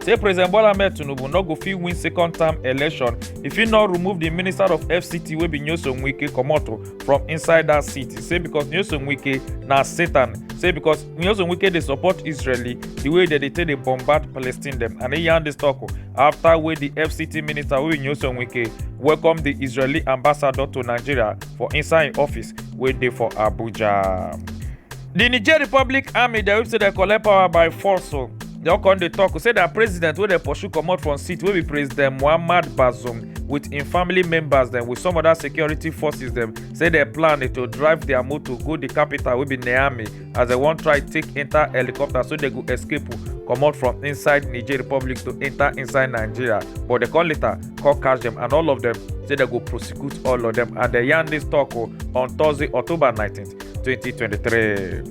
say president bola ahmed tinubu no go fit win second term election if he no remove di minister of fct wey be nyesom wike comot from inside dat seat say becos nyesom wike na satan say becos nyesom wike dey support israeli di way dem dey take dey bombard palestine dem and e yarn dis tok afta wey di fct minister wey be nyesom wike welcome di israeli ambassador to nigeria for inside im office wey dey for abuja. di niger republic army dem say dem collect power by force o dem come dey tok say na president wey dem pursue comot from seat wey be president muhammad bazoum with im family members dem with some other security forces dem say dem plan to drive dia motor go di capital wey be niamey as dem wan try take enta helicopter so dem go escape comot from inside niger republic to enta inside nigeria but dem come later come catch dem and all of dem say dem go prosecute all of dem and dem yarn dis tok on thursday october 19 2023.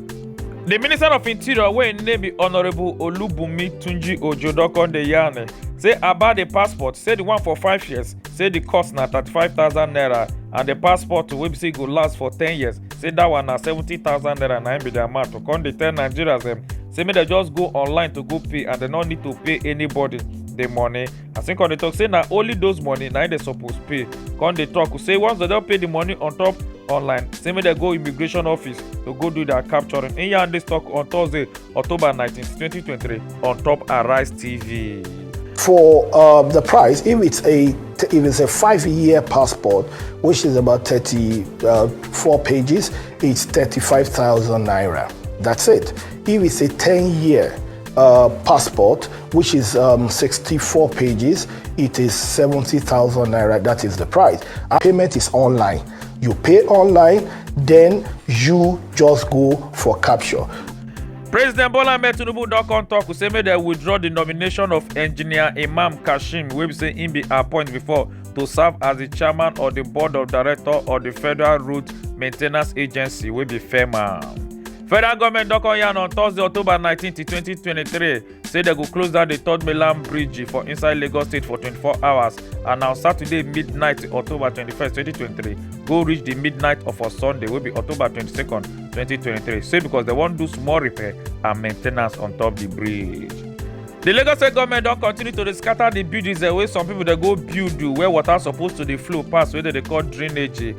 di minister of interior wey im name be honourable olubunmi tunji ojo don come dey yarn say about di passport say di one for five years say di cost na thirty-five thousand naira and di passport wey be say go last for ten years say dat one na seventy thousand naira na im be di amount to come dey tell nigerians dem say make dem just go online to go pay and dem no need to pay anybody di money as im come dey talk say na only those money na im dem suppose pay come dey talk say once dem don pay the money on top online say make dem go immigration office to go do their capturing im yarn dis talk on thursday october 19 2023 on top arise tv. for um, the price if it's a if it's a five-year passport which is about 34 uh, pages it's 35,000 naira that's it if it's a 10-year uh, passport which is um, 64 pages. It is 70,000 naira. That is the price. Our payment is online. You pay online, then you just go for capture. president bola ahmed tinubu don come tok say make dem withdraw di nomination of engineer imam kashim wey be say im be appoint before to serve as di chairman of di board of directors of di federal route maintenance agency wey be fema federal goment don come yarn on thursday october 19 2023 say dem go close down di third mainland bridge for inside lagos state for 24 hours and na saturday midnight october 21 2023 go reach di midnight of a sunday wey be october 22 2023 say because dem wan do small repair and main ten ance on top di bridge. di lagos state goment don continue to dey scata di buildings wey some pipo dey go build where water suppose to dey flow pass wey dem dey call drainage.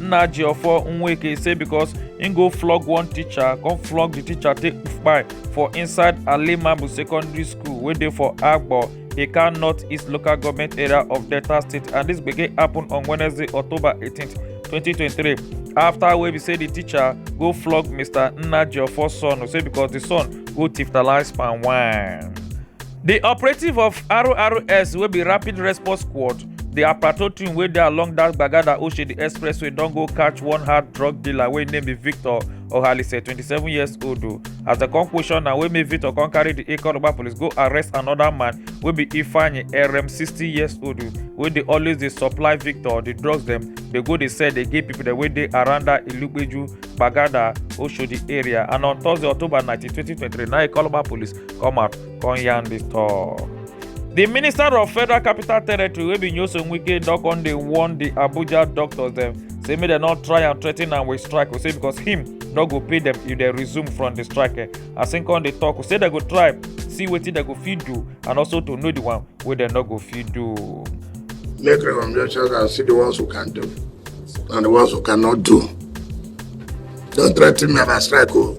nna jiofo nweke say because im go flog one teacher come flog di teacher take kpai for inside alimabu secondary school wey dey for agbo ika north east local government area of delta state and dis gbege happen on wednesday october 18 2023 afta wey be say di teacher go flog mr nna jiofo son say because di son go tiftalise palm wine. di operative of rrs wey be rapid response squad di aprato team wey dey along dat gbagada oshodi expressway don go catch one hard drug dealer wey name be victor ohalise 27 years old o as dem come question na wey make victor come carry di ikoroba police go arrest anoda man wey be ifeanyi erem 60 years old wey dey always dey supply victor di drugs dem dey go dey sell dey give pipo dem wey dey around dat ilugbeju gbagada oshodi area and on thursday october 19 2023 na ikoroba police come out come yarn the talk. di minister of federal capital territory wey be nyoso wike don come dey warn di abuja doctors dem say make dem no try and threaten am with strike say because him no go pay dem if dem resume from di strike eh, as him come dey talk say dem go try see wetin dem go fit do and also to know the one wey dem no go fit do. make recommendations and see the ones who can do and the ones who cannot do. Don't threaten me about strike, oh.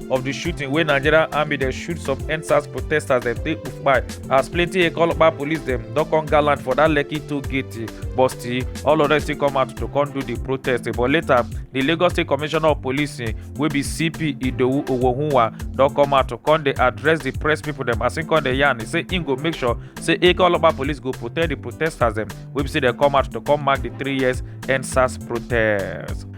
of di shooting wey nigerian army dey shoot some endsars protesters dem take kpai as plenty ekolopa police dem don come gallant for dat lekki toll gate but still all of dem still come out to come do di protest but later di lagos state commissioner of policing wey be cp idowu owohunwa don come out to come dey address di press pipo dem as im come dey yarn say im go make sure say ekolopa police go protect di protesters dem wey be say dem come out to come mark di three years endsars protest.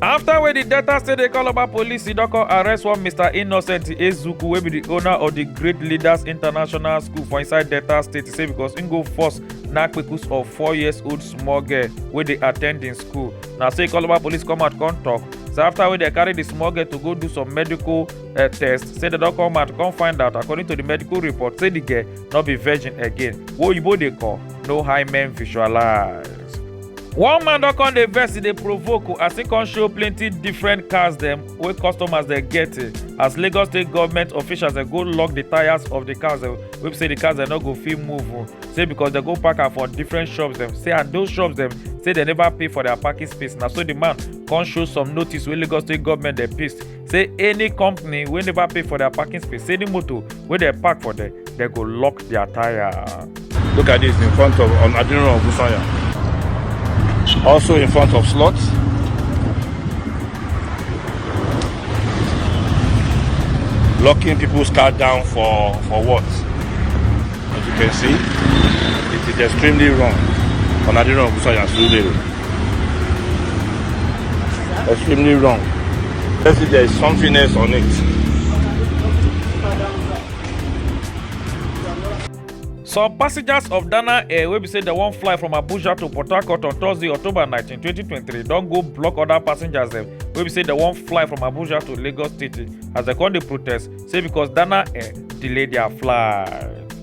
afta wey di delta state dey call oba police e don come arrest one mr innocent ezuku wey be di owner of di great leaders international school for inside delta state say becos im go force nakpekus of four years old small girl wey dey attend im school na so e call oba police come out come tok say afta wey dem carry di small girl to go do some medical eh, test say dem don come out come find out according to di medical report say di girl no be virgin again wey oyibo dey call no hymen visualize. one man don come dey vex e dey provoke o as e come show plenty different cars dem wey customers dem get eh, as lagos state government officials dem go lock the tyres of the cars dem wey be say the cars dem no go fit move o oh. say because dem go park am for different shops dem say and those shops dem say dem never pay for their parking space na so the man come show some notice wey lagos state government dem paste say any company wey never pay for their parking space say any motor wey dey park for there they go lock their tire. Look at this in front of on Adinro of Busanya. Also in front of slot. Locking people's car down for, for what? As you can see, it is extremely wrong on Adinro of Busanya Surulere. Extremely wrong. Let's see there is something else on it. Some passengers of Dana Air wey be say dem wan fly from Abuja to Port Harcourt on Thursday, October 19, 2023 don go block other passengers dem wey be say dem wan fly from Abuja to Lagos State as dem come dey protest say because Dana Air delay their flight.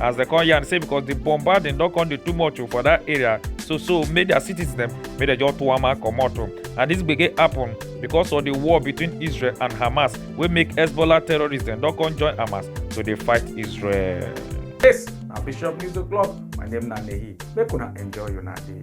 as dem come yarn say because the bombarding don come dey too much oh, for that area so so make their cities dem make dem just tuama comot oh. and this gbege happen because of the war between israel and hamas wey make hezbollah terrorists dem don come join hamas to dey fight israel. yes na bishop news o'clock my name na nehi make una enjoy una day.